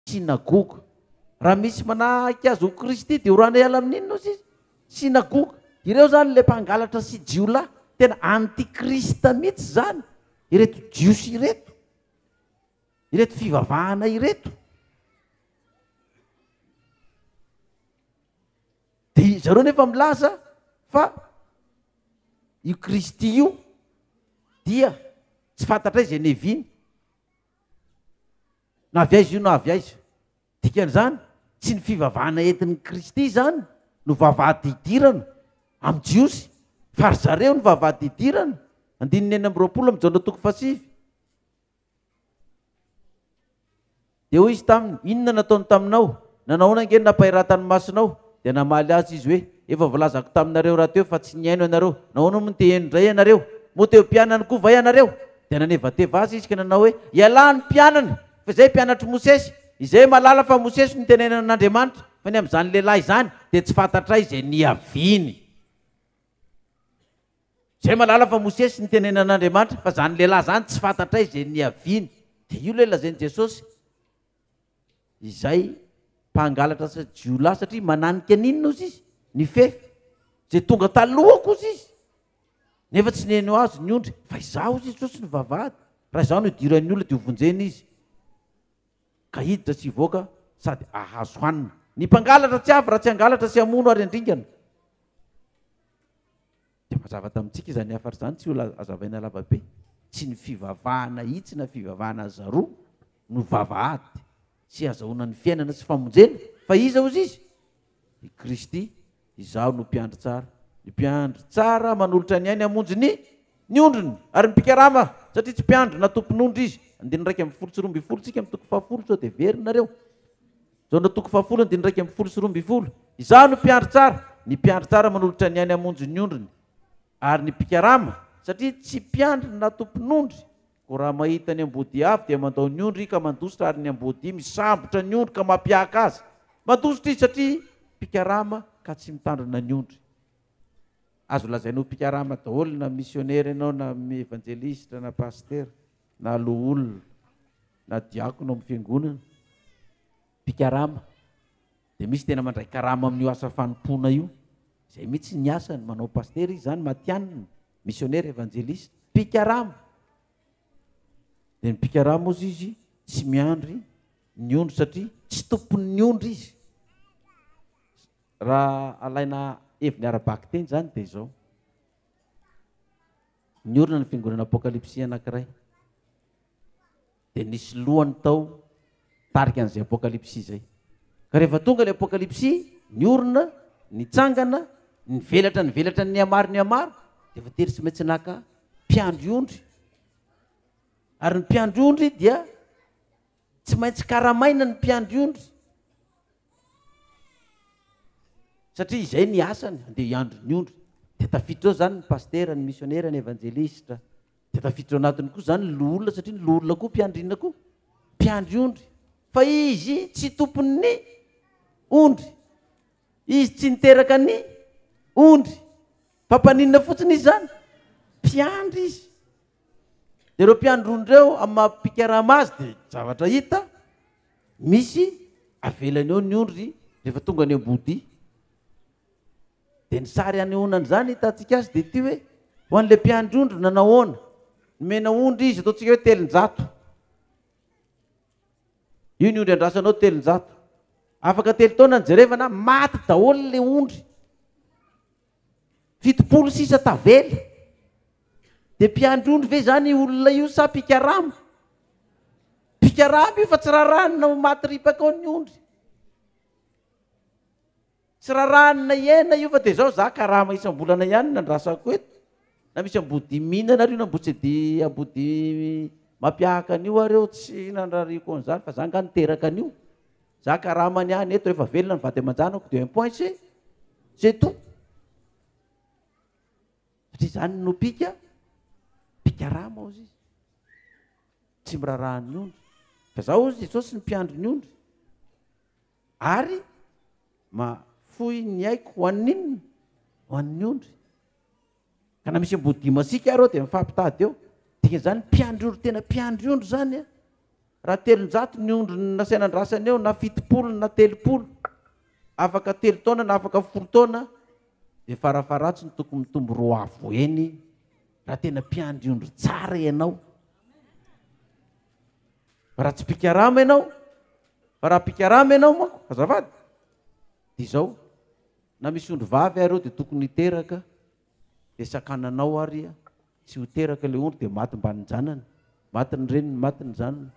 Synagoga. Raha misy manahaka azy ho Kristy dia oraina hiala amin' inona ozy izy? Synagoga. Ireo izany ilay mpangalatra sy jiolahy. Tena anti-Krista mihitsy izany ireto Jiosy ireto, ireto fivavahana ireto. Dia zareo nefa milaza fa io Kristy io dia tsy fantatray izay neviny. na avy aiza io na avy aiza. Dikan'izany, tsy ny fivavahana entin'i Kristy izany no vavahady hidirana amin'ny Jiosy, fa ry zareo no vavahady hidirana, andininy enina amby roapolo amin'i Jaona toko fahasivy. Dia hoy izy taminy, Inona nataony taminao? Nanahoana ange ny nampahiratan'ny masonao? Dia namaly azy izy hoe, Efa voalazako taminareo rahateo fa tsy nihaino ianareo. Nahoana moa no te-heno indray ianareo? Moa te ho mpianany koa va ianareo? Dia nanevateva azy izy ka nanao hoe, Ialahy ny mpianany! Fa izay mpianatr'i Mosesy. Izay mahalala fa Mosesy no nitenenana an'Andriamanitra, fa ny amin'izany lehilahy izany, dia tsy fantatray izay niaviany. Izay mahalala fa Mosesy no nitenenana an'Andriamanitra, fa izany lehilahy izany tsy fantatray izay niaviany. Dia io ilay lazain'i Jesosy. izay mpangalatra sa jiolahy satria mananika ny inona ozy izy ny fefy zay tonga talohako ozy izy nefa tsy neno azy ny ondry fa izaho ozy izy tsotsy ny vavahady raha izaho no idiran'ny olona dia hovonjena izy ka hiditra sy hivoaka sady ahazo hanina ny mpangalatra tsy avy raha tsy hangalatra sy hamono ary andringana Dia mazava tamintsika izany hafatra izany, tsy ho azavaina lavabe. Tsy ny fivavahana hitsy na fivavahana aza roa no vavahady sy azahoana ny fiainana sy famonjena, fa iza hozy izy? I Kristy, Izaho no mpiandry tsara. Ny mpiandry tsara manolotra ny ainy hamonjy ny ny ondriny, ary ny mpikarama, satria tsy mpiandry na tompon'ondry izy. Andininy iraika ambin'ny folo sy roa ambin'ny folo, tsika amin'ny toko fahafolo, sao dia very nareo. Jaona toko fahafolo andininy iraika ambin'ny folo sy roa ambin'ny folo Izaho no mpiandry tsara, ny mpiandry tsara manolotra ny ainy hamonjy ny ondriny. Ary ny mpikarama, satria tsy mpiandry na tompon'ondry, koa raha mahita ny amboadia avy dia mandao ny ondry ka mandositra ary ny amboadia misambotra ny ondry ka mampiahaka azy. Mandositra izy satria mpikarama ka tsy mitandrina ny ondry. Azo lazaina ho mpikarama daholo na misionera ianao na evanjelistra na pasitera na loholona. na diakona ao amin'ny fiangonana, mpikarama, dia misy tena mandray karama amin'io asa fanompoana io, izay mihitsy ny asany, manao pasitera izy izany, matihanina, misionera, evanjelista, mpikarama. Dia ny mpikarama ozy izy tsy miandry ny ondry satria tsy tompon'ny ondry izy. Raha alaina heviny ara-bakiteny izany dia izao. Niorina ny fiangonana apokalypsy anankiray, dia nisy lohany tao tarika an'izay apokalypsy izay. Ka rehefa tonga ilay apokalypsy, niorina, nitsangana, nivelatra nivelatra ny nihamaro nihamaro, dia voatery tsy maintsy naka mpiandry ondry. Ary ny mpiandry ondry dia Tsy maintsy karamaina ny mpiandry ondry satria izay ny asany, andeha hiandry ny ondry. Dia tafiditra ao izany ny pasitera, ny misionera, ny evanjelistra. Dia tafiditra ao anatiny koa izany ny loholona satria ny loholona koa mpiandry inona koa? Mpiandry ondry. Fa izy tsy tompon'ny ondry. Izy tsy niteraka ny ondry. Fa mpaninona fotsiny izy izany? Mpiandry izy. Dia ireo mpiandry rony ireo amin'ny maha mpikarama azy dia zavatra hita misy avelany eo ny ondry rehefa tonga any Ambohodia. Dia ny sary anehoana an'izany hitantsika azy dia ity hoe ho an'ilay mpiandry ondry nanahoana? Nomena ondry izy ataontsika hoe telonjato. Io ny ondry andrasanao telonjato. Afaka telo taona ny jerevana maty daholo ilay ondry. Fitopolo sisa tavela. Dia mpiandry ondry ve izany io olona io sa mpikarama? Mpikarama io fa tsy raràna ho maty ripaka ao ny ondry. Tsy raràna hiaina io fa dia izao izaho karama isam-bolana ihany no nandrasako eto, na misy am-boho-dimihinana ary io na mbotsedy am-boho-dimy mampiahaka an'io ary eo tsy nandrariako an'izany fa izaho angaha niteraka an'io. Za karama ny ahy neto refa velona ny vady aman-janako de un point c'est c'est tout satria zany no pika pikarama ozy izy tsy mirarahan'ny ondry fa za ozy jesosy ny mpiandry ny ondry ary mafoy ny aiko ho an'inona ho an'ny ondry Ka na misy amboadia masiaka ary ao dia mifampitady eo. Dikan'izany mpiandry ondry tena mpiandry ondry izany a. Raha telonjato ny ondry nasaina andrasana eo na fitopolo na telopolo, afaka telo taona na afaka folo taona dia farafaharatsiny tokony mitombo roa avo heny raha tena mpiandry ondry tsara ianao. Raha tsy mpikarama ianao, fa raha mpikarama ianao manko, azafady, dia izao, Na misy ondry vavy ary eo dia tokony hiteraka dia sakanana ao ary tsy ho teraka ilay ondry dia maty mbanin'ny janany, maty ny reniny, maty ny zanany.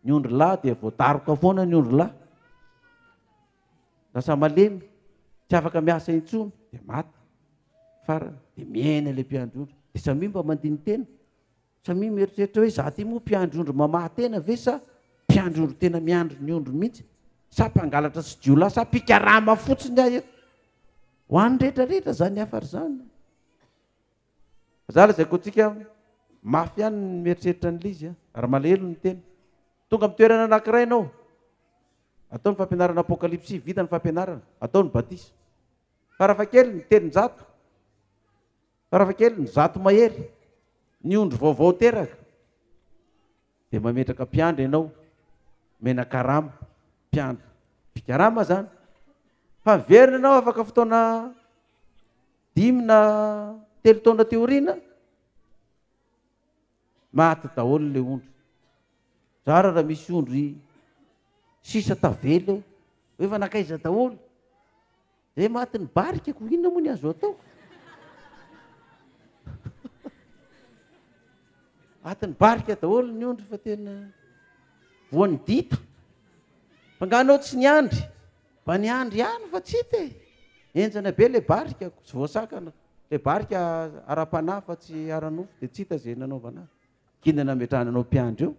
Ny ondry lahy dia voadaroka foana ny ondry lahy. Lasa malemy, tsy afaka miasa intsony dia maty. Farany dia miaina ilay mpiandry ondry. Dia samia mba mandini-tena. Samia mieritreritra hoe za ty moa mpiandry ondry mamaha tena ve sa mpiandry ondry tena miandry ny ondry mihitsy sa mpangalatra sy jiolahy sa mpikarama fotsiny aho eto. Ho an'ny rehetra rehetra zany hafa ry zany. Za lazaiko antsika mafy ihany ny mieritreritra an'ilay izy a, ary malahelo ny tena. Tonga amin'ny toerana anankiray ianao, atao ny fampianarana apokalypsy, vita ny fampianarana, atao ny batisa. Farafahakeliny telonjato. Farafahakeliny, zato mahery ny ondry vaovao teraka, dia mametraka mpiandry ianao, omena karama, mpiandry, mpikarama izany, fa miverina ianao afaka fotoana dimy na telo taona aty aoriana, maty daholo ilay ondry. Zara raha misy ondry sisa tavela eo, hoe efa nankaiza daholo. Dia maty ny barika ko inona moa ny azo atao? Maty ny barika daholo ny ondry fa tena voan'ny dita. Fa nga anao tsy niandry? Mba niandry ihany fa tsy hita e. Enjana be le barika ko, tsy voasakana. Le barika ara-panahy fa tsy ara-nofo dia tsy hita ze nanaovana azy. K'inona nametrahana anao mpiandry eo?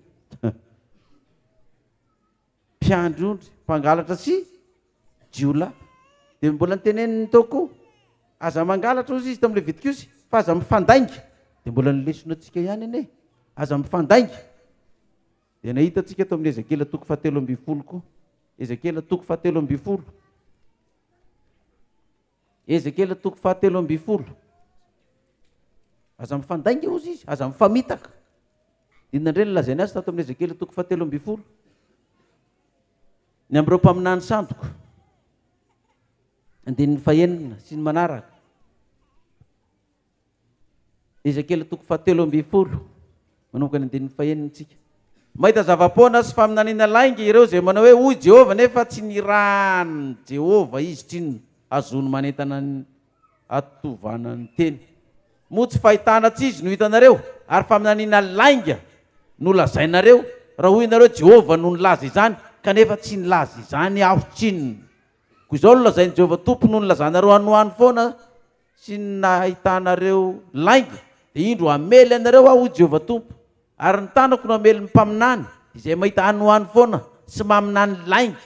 mpiandry ondry, mpangalatra sy jiolahy. Dia mbola noteneniny tao koa, aza mangalatra hozy izy tamin'ny Levitikiosy, fa aza mifandainga. Dia mbola ny lesona antsika ihany anie e, aza mifandainga. Dia nahita antsika tao amin'ny Ezekiela toko fahatelo ambin'ny folo koa, Ezekiela toko fahatelo ambin'ny folo. Ezekiela toko fahatelo ambin'ny folo. Aza mifandainga hozy izy, aza mifamitaka. Inona indray no lazainy azy tato amin'ny Ezekiela toko fahatelo ambin'ny folo? Ny amin'ireo mpaminany sandoka. Andininy fahenina sy ny manaraka. Ezekiela toko fahatelo ambin'ny folo, manomboka ny andininy fahenina isika. Mahita zava-poana sy faminaniana lainga ireo izay manao hoe, Hoy Jehovah, nefa tsy nirahan'i Jehovah izy. Tsinona azony manentana ny hatovana ny teny. Moa tsy fahitana tsy izy no hitanareo, ary faminaniana lainga no lazainareo, raha hoy ianareo, Jehovah no nilaza izany, kanefa tsy nilaza izany aho? Tsinona koa izao no lazain'i Jehovah Tompo, Noho ny lazanareo hanohano foana sy ny nahitanareo lainga, dia indro hamely anareo aho, hoy Jehovah Tompo, ary ny tanako no hamely ny mpaminany izay mahita hanohano foana sy maminany lainga.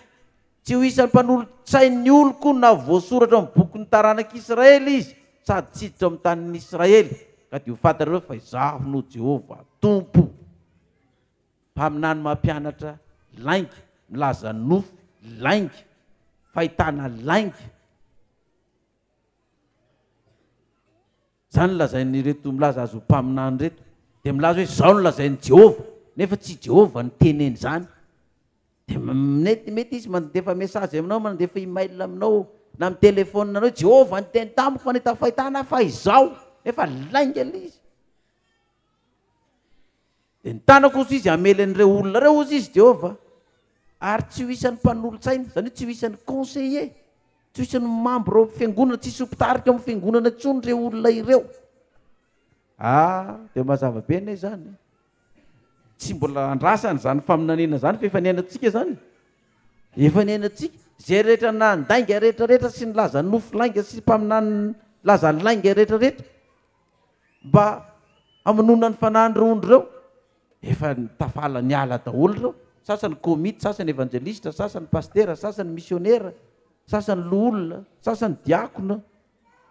Tsy ho isan'ny mpanolotsain'ny oloko na voasoratra ao amin'ny bokin'ny taranak'i Israely izy, sady tsy hiditra ao amin'ny tanin'i Israely, ka dia ho fantatrareo fa Izaho no Jehovah Tompo, Mpaminany mampianatra lainga, milaza nofy lainga, fahitana lainga. Izany lazain'ireto milaza azy ho mpaminany ireto, dia milaza hoe izao no lazain'i Jehovah, nefa tsy i Jehovah no teneny izany. Dia mety mety izy mandefa message aminao, mandefa email aminao, na mi-telephone anao hoe Jehovah niteny tamiko fa nahita fahitana aho fa izao, nefa lainga ilay izy. Dia ny tanako, hoy izy, hamely an'ireo olona ireo, hoy izy, Jehovah, ary tsy ho isan'ny mpanolotsaina, izany hoe tsy ho isan'ny conseiller, tsy ho isan'ny membre ao amin'ny fiangonana, tsy hisy ho mpitarika ao amin'ny fiangonana intsony ireo olona ireo. Ah, dia mazava be anie izany. Tsy mbola andrasana izany faminaniana izany fa efa niainantsika izany. Efa niainantsika. Izay rehetra nandainga rehetra rehetra sy nilaza nofo lainga sy mpaminany laza lainga rehetra rehetra. mba hamonoana ny fanahin'ireo ondry ireo. Efa tafala niala daholo ireo, sasany komity, sasany evanjelisitra, sasany pasitera, sasany misionera, sasany loholona, sasany diakona,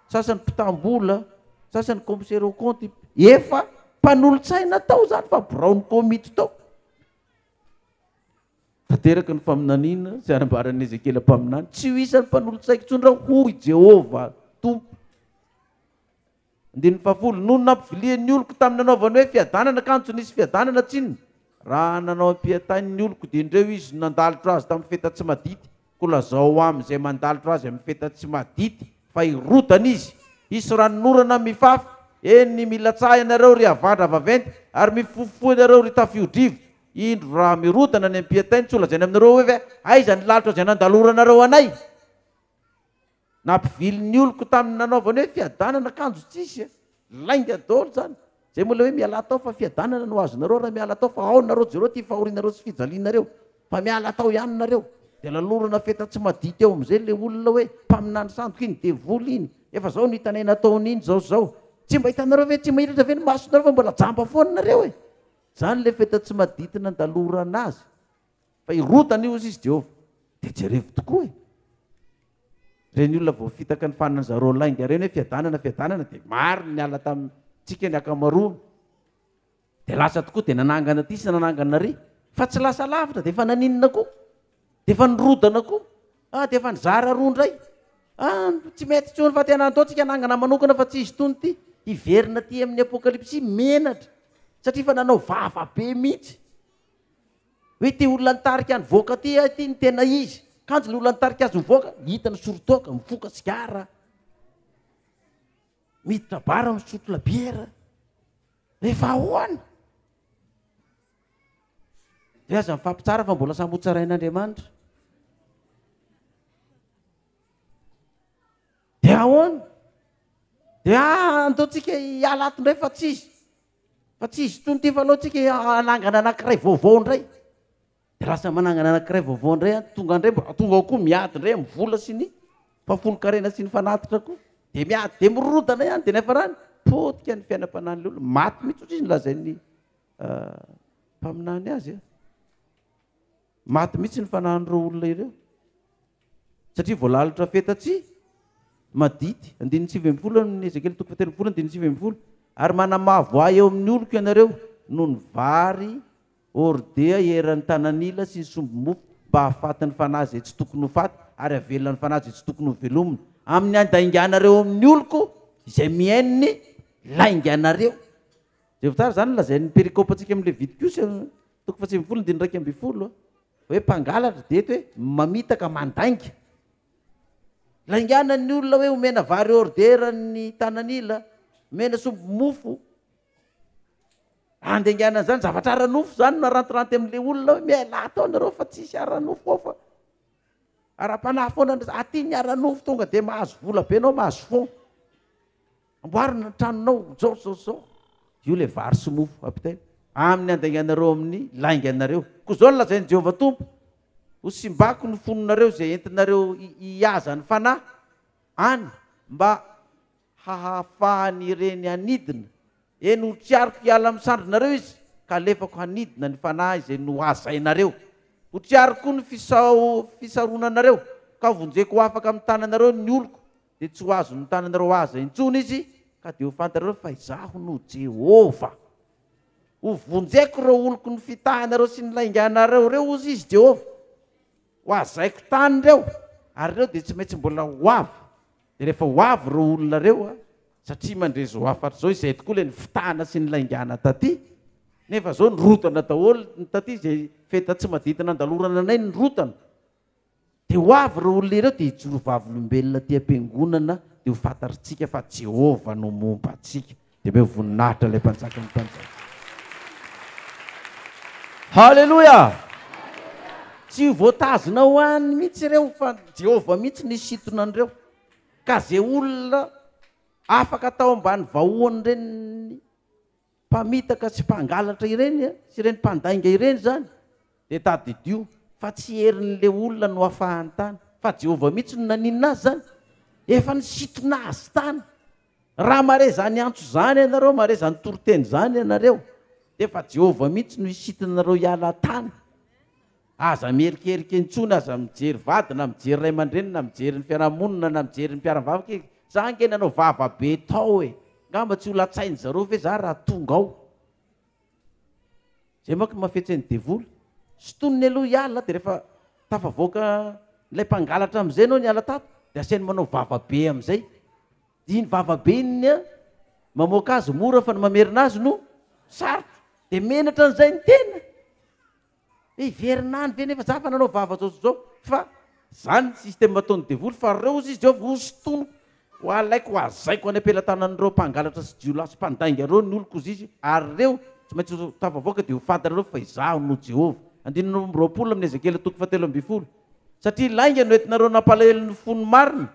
sasany mpitam-bola, sasany commissaire au compte. Efa mpanolotsaina tao izany fa biraon'ny komity tao. Tanteraka ny faminaniana sy anambaran'i Ezekiela mpaminany, tsy ho isan'ny mpanolotsaiko intsony ireo, hoy Jehovah Tompo. Andininy fahafolo, Nony nampivilian'ny oloko tamin'ny nanaovany hoe fiadanana ka antso nisy fiadanana tsinona, raha nanao ampiantainy ny oloko dia indreo izy no nandalitra azy tamin'ny feta tsy madity, koa lazao ho amin'izay mandalitra azy amin'ny feta tsy madity fa hirodana izy, hisy ranonorana mifafy, eny ny milatsaha ianareo ry havandra vaventy ary mifofofoha ianareo ry tafio-drivo, indro raha mirodana ny ampiantainy tsy holazainy aminareo hoe aiza ny lalitra izay nandaloranareo anay? Nampivily ny oloko tamin'ny nanaovany hoe fiadanana kanjo tsisy a! Lainga daholo zany! Zay moa ilay hoe mialà tao fa fiadanana no azonareo raha miala tao fa ao nareo jereo ty fahorianareo sy fijalianareo fa miala tao ihany nareo dia lalorana feta tsy madia teo amzay ilay olona hoe mpaminany sandoka iny devoly iny efa zao no hitanay nataony iny zao zao tsy mba hitanareo ve tsy mahiratra ve ny masonareo fa mbola jamba foana nareo e! zany ilay feta tsy madity nandalorana azy Fa hirotana io ozy izy Jehovah. Dia jerevo tokoa e! Ireny olona voafitaka ny faninan'i zareo lainga ireny hoe fiadanana, fiadanana dia maro ny niala tamintsika ny akamaroany. Dia lasa tokoa dia nanangana aty sy nanangana ary. Fa tsy lasa lavitra dia efa naninona koa. Dia efa nirodana koa. Ah, dia efa nizara roa indray. Ah, tsy mety intsony fa tena ataontsika anangana manokana fa tsy izy itony ity. Hiverina aty amin'ny apokalypsy menatra satria efa nanao vava be mihitsy. Hoe ity olona nitarika ny voaka ity ah ity no tena izy. Kanjo ny olona nitarika azy ho voaka, hita ny soron-toaka, mifoka sigara, miditra bara, misotro labiera. Rehefa ahoana? Dia aza mifampitsara fa mbola samy hotsarain'Andriamanitra. Dia ahoana? Dia andaontsika hiala ato indray fa tsy izy. Fa tsy izy itony ity fa aleo tsika hanangana anankiray vaovao indray. Dia lasa manangana anankiray vaovao indray an, tonga indray mba tonga ao koa miady indray amin'ny vola sy ny fahafolon-karena sy ny fanatitra koa. Dia miady dia mirodana ihany dia ny hafarany potika ny fiainam-panahin'ilay olona. Maty mihitsy ohatry izy no lazain'ny mpaminany azy an. Maty mihitsy ny fanahin'ireo olona ireo. Satria voalalotra feta-tsy madity. Andininy sivy ambin'ny folo amin'ny Ezekiely toko fahatelo ambin'ny folo andininy sivy ambin'ny folo. Ary manamavo ahy eo amin'ny oloko ianareo noho ny vary hordea eran'ny tanan'ila sy ny sombimofo mba hahafaty ny fanahy izay tsy tokony ho faty ary hahavelona ny fanahy izay tsy tokony ho velomina amin'ny handainganareo eo amin'ny oloko izay mihaino ny lainganareo. Jereo tsara izany ny lazain'ny perikopantsika amin'ny Levitikosa toko fahasivy ambin'ny folo andininy iraika ambin'ny folo. Hoe mpangalatra dia eto hoe mamitaka, mandainga. Lainganan'ny olona hoe omena vary hors-d'heure an'ny tanan'ila, omena sombim mofo. Andainganana izany, zavatra ara-nofo izany no arantiranty amin'ilay olona hoe mialà atao nareo fa tsisy ara-nofo ao fa ara-panahy foana, aty ny ara-nofo tonga dia mahazo vola be anao mahazo fonds. Amboary ny tranonao zao zao zao. Io le vary sy mofo apitaina. Amin'ny handainganareo amin'ny lainganareo. Koa zao no lazain'i Jehovah Tompo, Ho simbako ny fononareo izay entinareo hihaza ny fanahy any mba hahafahan'ireny hanidina, eny ho triariko hiala amin'ny sandrinareo izy ka halefako hanidina ny fanahy izay nohazainareo. Ho triariko koa ny fisaronanareo ka hovonjeko ho afaka amin'ny tananareo ny oloko dia tsy ho azon'ny tananareo aza intsony izy, ka dia ho fantatrareo fa Izaho no Jehovah. Hovonjeko ireo oloko nifitahanareo sy nilainganareo ireo, hoy Izy Jehovah. Hohazaiko tany ireo, ary ireo dia tsy maintsy mbola ho avy. Dia rehefa ho avy ireo olona ireo, satria mandre izao hafatra izao, izay tokoa ilay nifitahana sy nilaingana tatỳ, nefa izao nirotana daholo ny tatỳ, izay feta tsy madity nandalorana anay nirotana. Dia ho avy ireo olona ireo dia hijoro vavolombelona aty am-piangonana dia ho fantatritsika fa Jehovah no momba antsika. Dia omeo voninahitra ilay Mpanjakan'ny mpanjaka. Haleloia! Tsy ho voatazona ho any mihitsy ireo fa Jehovah mihitsy nisintona an'ireo. Ka izay olona afaka tao ambany vahoan'ny reniny, mpamitaka sy mpangalatra ireny sy ireny mpandainga ireny izany dia tadidio fa tsy herin'ilay olona no afahany tany fa Jehovah mihitsy no naninona azy izany, efa nisintona azy tany. Raha mahare izany antso izany ianareo, mahare izany toriteny izany ianareo dia efa Jehovah mihitsy no hisintona anareo hiala tany. Aza mierikerika intsony, aza mijery vady na mijery ray aman-dreny na mijery ny fiarahamonina na mijery ny mpiara-mivavaka e! Za ange nanao vava be tao e! Ngamba tsy ho latsain-dry zareo ve za raha tonga ao? Zay manko no mahafetsen'ny devoly. Sintoniny aloha hiala dia rehefa tafavoaka ilay mpangalatra amin'izay ianao niala tato dia asainy manao vava be amin'izay. Dia iny vava be iny ny mamoaka azy mora fa ny mamerina azy no sarotra. Dia menatra an'izay ny tena. Hiverina any ve nefa za fa nanao vava zao sy zao fa zany ny système ataon'ny devoly fa reo ozy izy ao vao hosintoniko ho alaiko ho azaiko any am-pelatanan'ireo mpangalatra sy jiolahy sy mpandainga reo ny oloko ozy izy ary reo tsy maintsy ho tafavoaka de ho fantanareo fa izaho no Jehovah andininy roa amby roapolo amin'ny Ezekiela toko fahatelo ambin'ny folo satria lainga no entinareo nampalahelo ny fony marina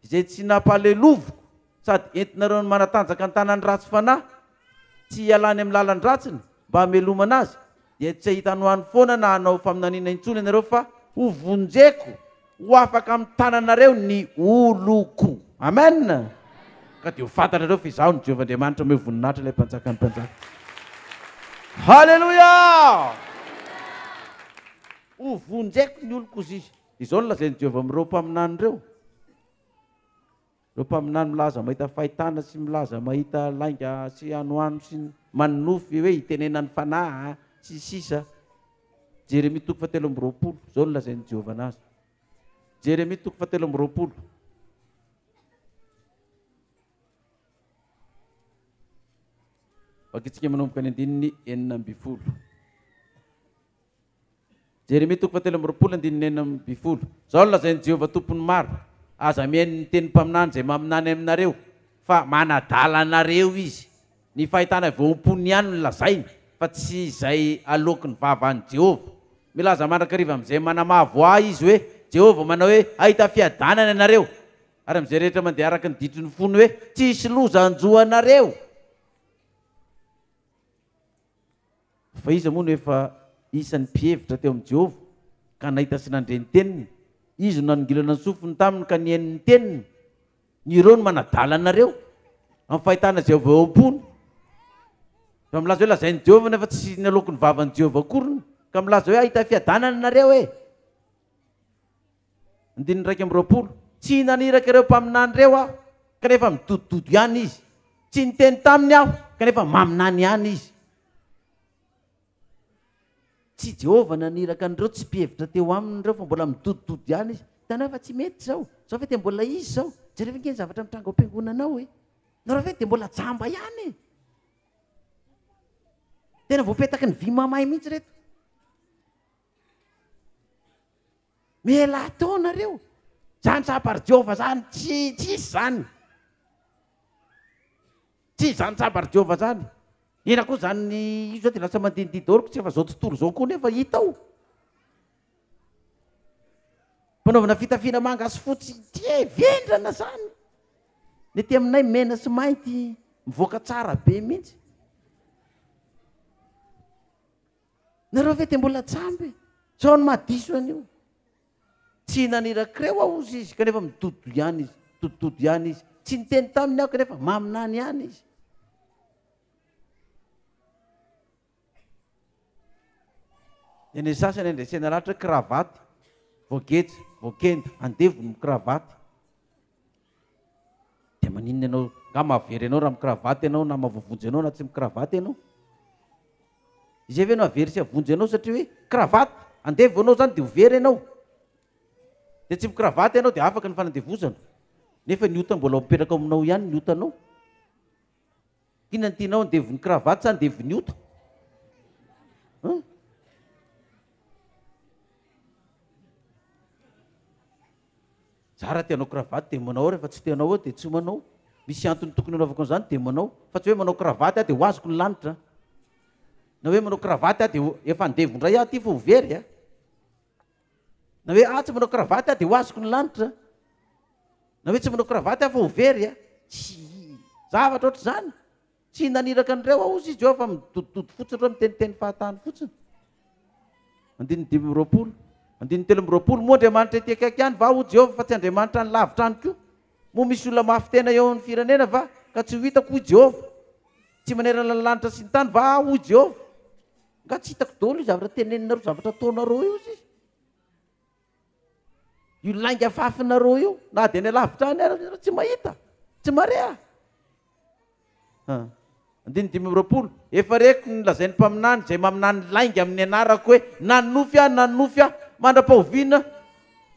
izay tsy nampahaleloviko sady entinareo ny manatanjaka ny tanan'ny ratsy fanahy tsy hialany amin'ny lalan-dratsiny mba hamelomana azy, dia tsy hahita anoany foana na hanao faminaniana intsony ianareo fa. Hovonjeko ho afaka amin'ny tananareo ny oloko. Amen! Ka dia ho fantatrareo fa Izaho no Jehovah Andriamanitra mahery voninahitra ilay Mpanjakan'ny mpanjaka. Haleloia! Hovonjeko ny oloko, zy. Izao no lazain'i Jehovah amin'ireo mpaminany ireo, ireo mpaminany milaza mahita fahitana sy milaza mahita lainga sy anoano sy manonofy hoe hitenena ny fanahy sy ny sisa. Jeremia toko fahatelo amby roapolo, izao no lazain'i Jehovah anazy. Jeremia toko fahatelo amby roapolo. Vakitsika manomboka ny andininy enina ambin'ny folo. Jeremia toko fahatelo amby roapolo andininy enina amby folo Izao no lazain'i Jehovah Tompon'ny maro, Aza mihaino ny tenin'ny mpaminany izay maminany aminareo, fa manadala anareo izy. Ny fahitana avy ao am-pony ihany no lazainy, fa tsy izay aloaky ny vava an'i Jehovah. Milaza mandrakariva amin'izay manamavo ahy izy hoe, Jehovah manao hoe, Hahita fiadanana ianareo, ary amin'izay rehetra mandeha araka ny ditry ny fony hoe, Tsy hisy loza hanjo anareo. Fa iza moa no efa isan'ny mpihevitra teo amin'i Jehovah, ka nahita sy nandre ny teniny? Izy no nanongilana ny sofiny taminy ka nihaino ny teniny. Ireo no manadala anareo amin'ny fahitana izay avy ao am-pony. Raha milaza hoe lazain'i Jehovah nefa tsy naloaky ny vavan'i Jehovah akoriny, ka milaza hoe hahita fiadanana ianareo e! Andininy iraika amby roapolo, Tsy naniraka ireo mpaminany ireo aho, kanefa midodododo ihany izy, tsy niteny taminy aho, kanefa maminany ihany izy. Tsy i Jehovah naniraka an'ireo tsy mpihevitra teo aminy ireo, fa mbola midodododo ihany izy. Hitanao fa tsy mety izao. Izao ve dia mbola izy izao? Jereo ve ange ny zavatra mitranga ao am-piangonanao e! Nareo ve dia mbola jamba ihany e! Tena voapetaky ny vy mamay mihitsy ireto. Mela atao nareo. Zany sabar Jehovah zany tsy tsisy zany. Tsisy zany sabar Jehovah zany. Ina koa zany io zao de lasa mandindidy daholo ko tsy efa zao tontolo zao ko nefa hita ao. Panaovana fitafiana manga sy fotsy tie vendrana zany. Ny aty aminay mena sy mainty mivoaka tsara be mintsy. Nareo ve de mbola jamba e? Zao ny maha diso an'io. Tsy hihinana irakireo aho hozy izy kanefa midododo ihany izy, midodododo ihany izy. Tsy niteny taminy aho kanefa maminany ihany izy. Dia ny sasany andresena ratra kravaty, voageja, voakenda, andevony ny kravaty. Dia maninona ianao? Nga mahavery anao raha mi-cravate ianao na mavovonjy anao na tsy mi-cravate ianao? Izay ve no hahavery sy havonjy anao satria hoe cravate? Andevo anao izany dia ho very ianao. Dia tsy mi-cravate ianao dia afaka ny fanandevozana. Nefa ny ota mbola mipetraka ao aminao ihany ny otanao. Inona no tianao, ny devono cravate sa ny devono ota? An? Za raha te hanao cravate dia manao rehefa tsy te hanao eo dia tsy manao. Misy antony tokony hanaovako an'izany dia manao. Fa tsy hoe manao cravate aho dia ho azoko ny lanitra an. Na hoe manao cravate aho dia ho- efa andevo indray aho aty fa ho very an. Na hoe aho tsy manao kravaty aho dia ho azoko ny lanitra. Na hoe tsy manao kravaty aho fa ho very a. Tsy zavatra ohatr'izany. Tsy naniraka an'ireo aho, hozy i Jehovah, fa midodidody fotsiny ireo miteniteny fahatany fotsiny. Andininy dimy amby roapolo. Andininy telo amby roapolo. Moa Andriamanitra ety akaiky ihany va, hoy Jehovah, fa tsy Andriamanitra any lavitra any koa? Moa misy olona mafy tena eo amin'ny firenena va, ka tsy ho hitako, hoy Jehovah? Tsy manerana ny lanitra sy ny tany va aho, hoy Jehovah? Nga tsy hitako daholo io zavatra teneninareo zavatra ataonareo io zisy io lainga fafinareo io na de any alavitra any ary tsy mahita tsy marea andiny dimy amrapolo efa reko ny lazain'ny mpaminany zay maminany lainga amin'ny anarako hoe nanofy aho nanofy aho mandra-pahoviana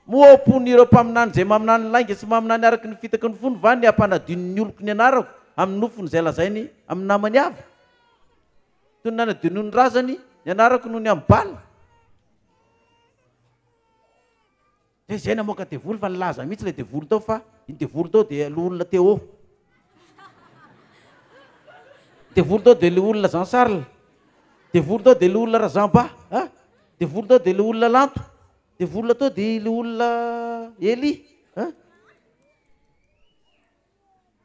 moa ao am-pon'ireo mpaminany zay maminany lainga sy maminany araka ny fitaky ny fony va ny hampanadino ny oloko ny anarako amin'ny nofony zay lazainy amin'ny namany avy toy ny nanadio noho ny razany ny anarako noho ny amin'ny bala dia izay namoaka devoly fa nilaza mihitsy ilay devoly tao fa iny devoly tao dia loholona Téo devoly tao dia loholona Jean Charles devoly tao dia loholona Razamba a ah, devoly tao dia loholona Lanto devoly tao dia loholona Elie a ah.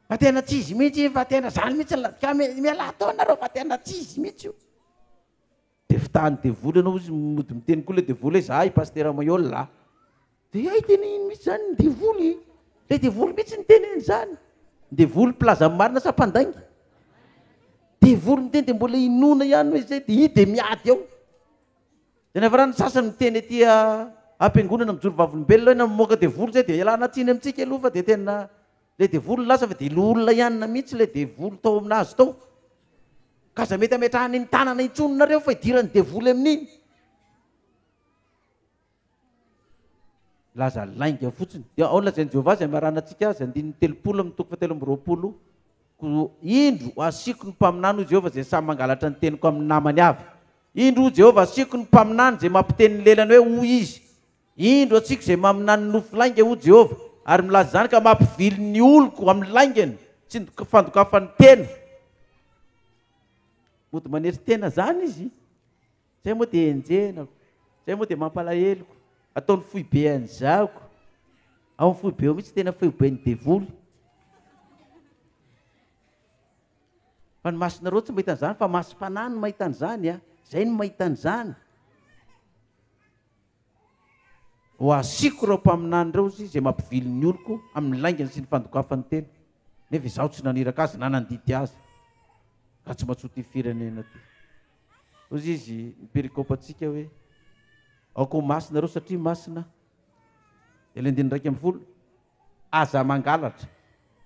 Fa tena tsy izy mihitsy iny fa tena zany mihitsy la ka mi- mialà tao nareo fa tena tsy izy mihitsy io. De fitahan'ny devoly anao izy mody miteny koa le devoly hoe za i Pasitera Maihol a. De hay tena iny mihitsy zany ny devoly e. Le devoly mihitsy niteny an'zany. Devoly mpilaza ny marina sa mpandainga? Devoly miteny de mbola inoana ihany hoe zay de i de miady ao. Dia niafarany ny sasany miteny ety am-piangonana mijoro vavolombelona hoe na mamoaka devoly izay dia ialana tsiny amintsika aloha fa dia tena ilay devoly no lasa fa dia loholona ihany na mihitsy ilay devoly tao aminazy tao. Ka aza mety ametrahany ny tanana intsony nareo fa idiran'ny devoly amin'iny. Laza lainga fotsiny. Dia ao lazain'i Jehovah izay maranana antsika azy, andininy telopolo amin'ny toko fahatelo amby roapolo, Koa indro, hasiako ny mpaminany, hoy Jehovah, izay samy mangalatra ny teniko amin'ny namany avy. Indro, hoy Jehovah, hasiako ny mpaminany izay mampiteny ny lelany hoe hoy izy. Indro, hasiako izay maminany nofy lainga, hoy Jehovah, ary milaza izany ka mampivily ny oloko amin'ny laingany sy ny fandokafany tena. Mody manery tena izany izy. Zay moa dia enjenako, zay moa dia mampalaheloko, ataony foibe any zako, ao am foibe ao mihitsy tena foiben'ny devoly, fa ny masonareo tsy mahita an'izany fa masom-panahy no mahita an'izany a, zay no mahita an'izany, ho asiko ireo mpaminany ireo izy zay mampivily ny oloko amin'ny laingany sy ny fandokafany tena, nefa izaho tsy naniraka azy na nandidy azy, ka tsy matsotio firenena ty. Hoy izy, ny perikopantsika hoe, Aoka ho masina ireo satria masina Aho. Ilay andininy iraika ambin'ny folo, Aza mangalatra,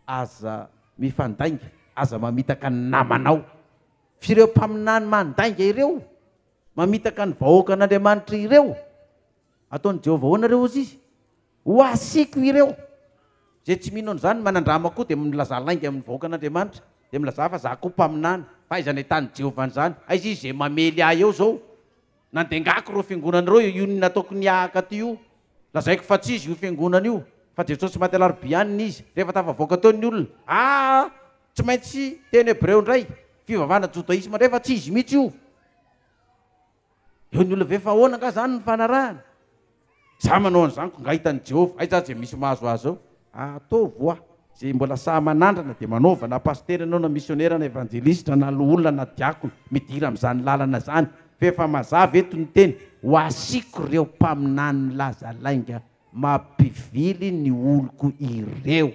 aza mifandainga, aza mamitaka ny namanao. Fa ireo mpaminany mandainga ireo, mamitaka ny vahoakan'Andriamanitra ireo, Ataon'i Jehovah ahoana ireo, hozy izy? Ho asiako ireo. Izay tsy mino an'izany, manandrama koa, dia milazà lainga amin'ny vahoakan'Andriamanitra, dia milazà fa izaho koa mpaminany. Fa aiza nahitàn'i Jehovah an'izany? Aiza izy izay mamely ahy eo izao? Nandengako ireo fiangonana ireo io nony nataoko ny hahaka aty io. Lazaiko fa tsy izy io fiangonana io, fa Jesosy maty Alarobia any ny izy. Rehefa tafavoaka teo ny olona, aa tsy maintsy teny hebreo indray, fivavahana jodaisma indray, fa tsy izy mihitsy io. Eo ny olona ve fa ahoana angaha izany ny fanarahana? Izaho manao an'izany koa nga hitan'i Jehovah. Aiza aza izay misy mahazo azy ao? Ataovy ho'a izay mbola sahy manandrana, dia manaova na pasitera ianao na misionera na evanjelistra na loholona na diakona, midira amin'izany lalana izany. Fa efa mazava eto ny teny, Ho asiako ireo mpaminany laza lainga mampivily ny oloko ireo.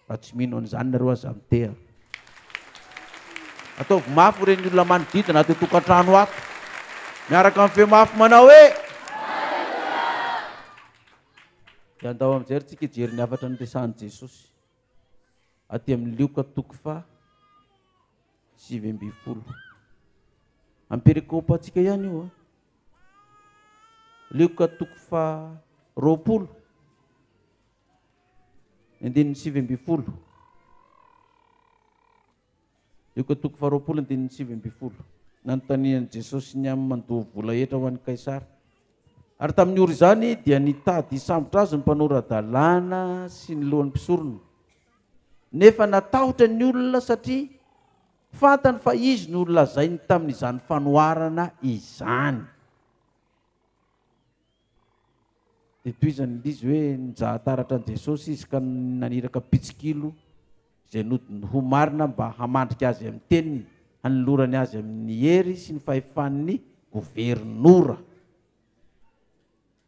Raha tsy mino an'izany nareo aza miteha. Ataovy mafy ho ren'ny olona manodidina ato an-tokantrano ato. Miaraka amin'ny feo mafy manao hoe. Dia andao amin'izay ry tsika hijery ny hafatra niresahan'i Jesosy. Aty amin'ny Lioka toko fa sivy ambin'ny folo. Amperekopantsika ihany io. Ah. Lioka toko fa roapolo. Andininy sivy ambin'ny folo. Lioka toko faharoapolo andininy sivy ambin'ny folo. Nanontanian'i Jesosy ny amin'ny mandoa vola hetra ho an'i Kaisara. Ary tamin'ny ora izany dia nitady hisambotra azy ny mpanora-dalàna sy ny lohan'ny mpisorona. Nefa natahotra ny olona satria fantany fa izy no lazainy tamin'izany fanoharana izany. Dia tohizan' ilay izy hoe, Nijahan-taratra an'i Jesosy izy ka naniraka mpitsikilo izay nodiny ho marina mba hamandrika azy amin'ny teniny, hanolorany azy amin'ny hery sy ny fahefan'ny governora.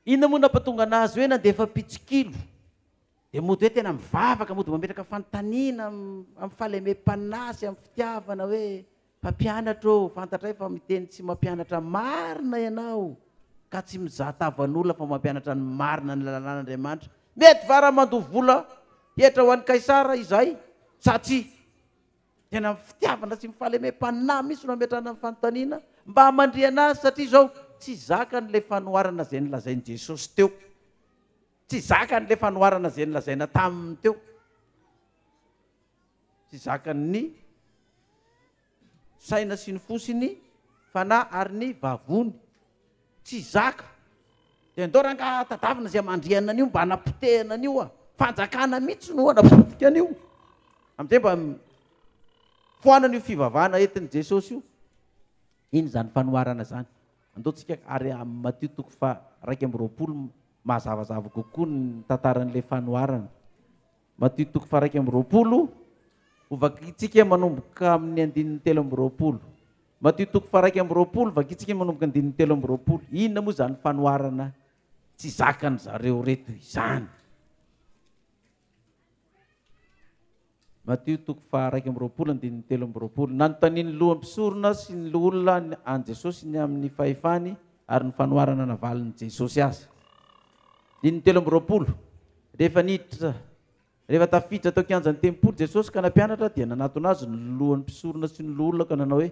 Inona moa no nampatonga an'azy hoe nandefa mpitsikilo? Dia mody hoe tena mivavaka, mody mametraka fanontaniana amin'ny fahalemem-panahy sy amin'ny fitiavana hoe, Mpampianatra ô, fantatray fa miteny tsy mampianatra marina ianao ka tsy mizaha tavan'olona fa mampianatra ny marina ny lalàn'Andriamanitra. Mety va raha mandoa vola hetra ho an'i Kaisara izahay sa tsia? Tena amin'ny fitiavana sy ny fahalemem-panahy mihitsy no ametrahana ny fanontaniana mba hamandrihana azy satria izao tsy zakany ilay fanoharana izay nolazain'i Jesosy teo. Tsy zakany ilay fanoharana izay nolazaina taminy teo. tsy zakan'ny saina sy ny fo sy ny fanahy ary ny vavony tsy zaka de ndao rangaha tadavina zay mandriana an'io mba anapotehana an'io a fanjakana mihitsy no anapotika an'io am'izay mba foanana io fivavahana entin'i jesosy io iny zany fanoharana zany andao tsika ary amin'ny matio toko fa raika amby roapolo mazavazava kokoa ny tantaran'ilay fanoharana Matio toko faharaika amby roapolo, ho vakintsika manomboka amin'ny andininy telo amby roapolo. Matio toko faharaika amby roapolo, vakintsika manomboka andininy telo amby roapolo. Inona moa izany fanoharana tsy zakan zareo reto izany? Matio toko faharaika amby roapolo andininy telo amby roapolo. Nanontanian'ny loham-pisorona sy ny loholona an'i Jesosy ny amin'ny fahefany ary ny fanoharana navalin'i Jesosy azy. Andininy telo amby roapolo. Rehefa niditra, rehefa tafiditra tao kianjan'ny tempoly Jesosy ka nampianatra, dia nanatona Azy ny lohan'ny mpisorona sy ny loholona ka nanao hoe,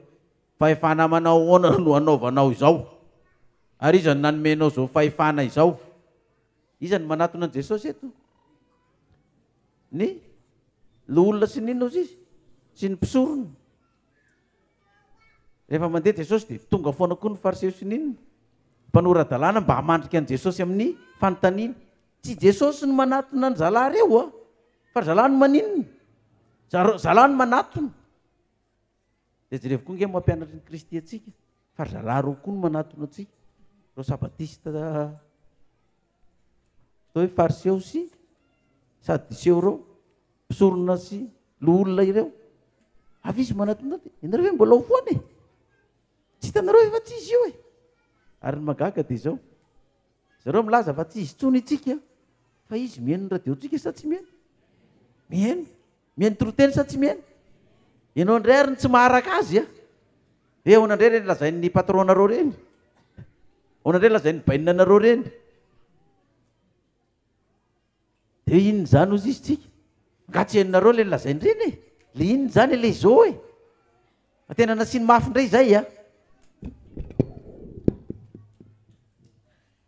Fahefana manao ahoana no anaovanao izao? Ary iza no nanome anao izao fahefana izao? Iza no manatona an'i Jesosy eto? Ny loholona sy ny inona hozy izy? Sy ny mpisorona. Rehefa mandeha Jesosy dia tonga foana koa ny fariseo sy ny inona? Mpanora-dalàna mba hamandrika an'i Jesosy amin'ny fanontaniana. Tsy Jesosy no manatona ny zalahy reo a! Fa zalahy no maninona? Za- zalahy no manatona. De jerevy koa nge mampianatry ny Kristy antsika fa zalahy reo koa no manatona antsika. Reo sabatista atao hoe fariseo sy sadiseo reo, mpisorona sy loholona ireo. Avy izy manatona, ianareo ve mbola ho foana e? Tsy hitanareo ve fa tsy izy io e? Ary ny mahagaga dia izao, zareo milaza fa tsy izy intsony itsika, fa izy mihaino ny radio-tsika sa tsy mihaino? Mihaino. Mihaino toriteny sa tsy mihaino? Ianao indray ary no tsy maharaka azy a! Dia ahoana indray ireny lazain'ny patron-nareo ireny? Ahoana indray lazain'ny bainina anareo ireny? Dia inona izany hozy izy tsika? Angaha tsy henonareo ilay nolazainy reny e? Ilay inona izany ilay zo e? Fa tena nasiany mafy indray izay a!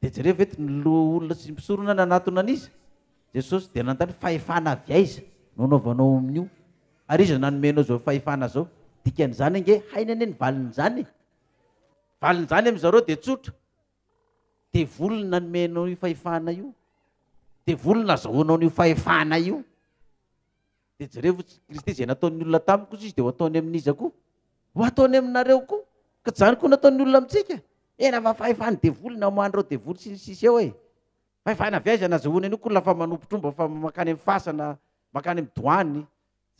Dia jereo ve eto ny loholona sy ny mpisorona nanatona an'iza? Jesosy dia nanontany fahefana avy aiza no anaovanao amin'io? Ary iza nanome anao izao fahefana izao? Dikan'izany ange hainy anie ny valin'izany e! Valin'izany amin'izareo dia tsotra. Devoly nanome anao io fahefana io, devoly nazahoanao an'io fahefana io. Dia jerevo Kristy izay nataon'ny olona tamiko kosa izy dia ho ataony amin'iza koa? Ho ataony aminareo koa. Ka izany koa nataon'ny olona amintsika. Ena fa fahefan'ny devoly namoahan'ireo devoly sy ny sisa eo e. Fahefana avy aiza nazahoany an'io koa lafa manompo tromba fa makany amin'ny fasana, makany amin'ny doany.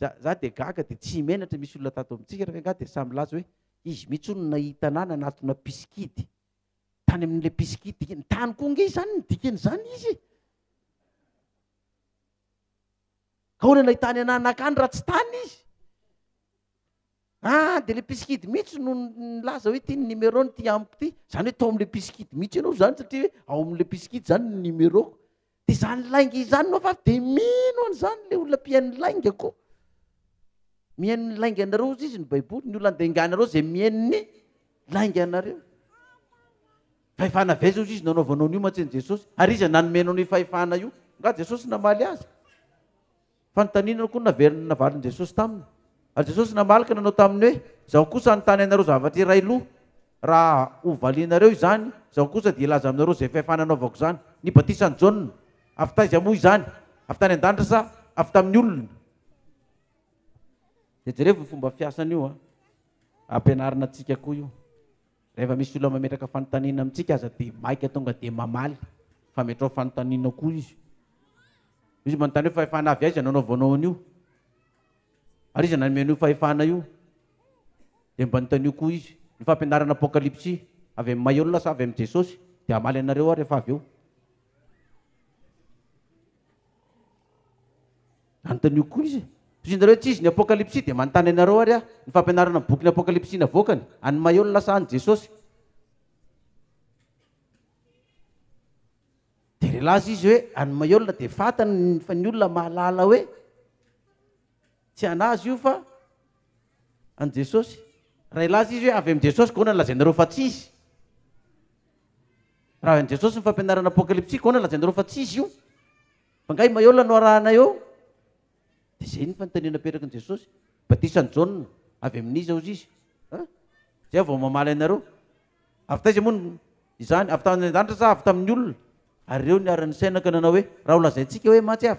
Za, za dia gaga dia tsy menatra misy olona tato amintsika reka angaha dia samy milaza hoe izy mihitsy hono nahita anah nanatona mpisikidy. tany amin'ilay pisikity dikany tany koa nge izany ny dikany izany izy e. ka hoana ilay tany ananakany raha tsy tany izy ah de le pisikity mihitsy no nilaza hoe ty ny numéro ny ty amiko ty zany hoe tao am'le pisikity mihitsy ianao zany satria hoe ao am'le pisikity zany ny numeroko Dia izany lainga izany no vavy dia mino an'izany ilay olona mpihaino lainga koa. Mihaino ny lainga anareo hozy izy ny baiboly, ny olona andeha anareo izay mihaino ny lainga anareo. Fahefana avy aiza hozy izy nanaovanao an'io mantsy an'i Jesosy? Ary iza nanome anao ny fahefana io? Nga Jesosy namaly azy? Fanontaniana koa no naverina navalin'i Jesosy taminy. Ary Jesosy namaly ka nanao taminy hoe, Izaho kosa hanontany anareo zavatra iray aloha. Raha ho valianareo izany, Izaho kosa dia hilaza aminareo izay fahefana anaovako izany. Ny batisan'i Jaona, avy taiza moa izany? Avy tany an-danitra sa avy tamin'ny olona? Dia jereo io fomba fiasan'io an. Ampianarina antsika koa io. Rehefa misy olona mametraka fanontaniana amintsika aza dia maika tonga dia mamaly fa metrao fanontaniana koa izy. Misy manontany hoe fahefana avy aiza no anaovanao an'io? Ary iza nanome an'io fahefana io? Dia mba anontanio koa izy. Ny fampianarana apokalypsy avy amin'ny maha olona sa avy amin'i Jesosy dia hamaly anareo aho rehefa avy eo. Anontanio koa izy, Tohizinareo etsy izy ny Apokalypsy dia manontany anareo ary ahy ny fampianarana ny bokin'ny Apokalypsy navoakany, an'i Mayo ny lasa an'i Jesosy. Dia relazy izy hoe, an'i Mayo dia fantany fa ny olona mahalala hoe tsy an'azy io fa an'i Jesosy. Raha hilaza izy hoe avy amin'i Jesosy, gaona ny lazainareo fa tsy izy. Raha avy amin'i Jesosy ny fampianarana Apokalypsy, gaona ny lazainareo fa tsy izy io. Fa nga i Maiola no arahana eo? Dia zay ny fanontaniana apetrakin'i Jesosy. Batisan'i Jaona, avy amin'iza hozy izy? An? Zay aho vao mamaly anareo. Avy taiza moa ny izany? Avy tany an-danitra sa avy tamin'ny olona? Ary ireo niara-nisaina ka nanao hoe, Raha holazaintsika hoe, Maty aho.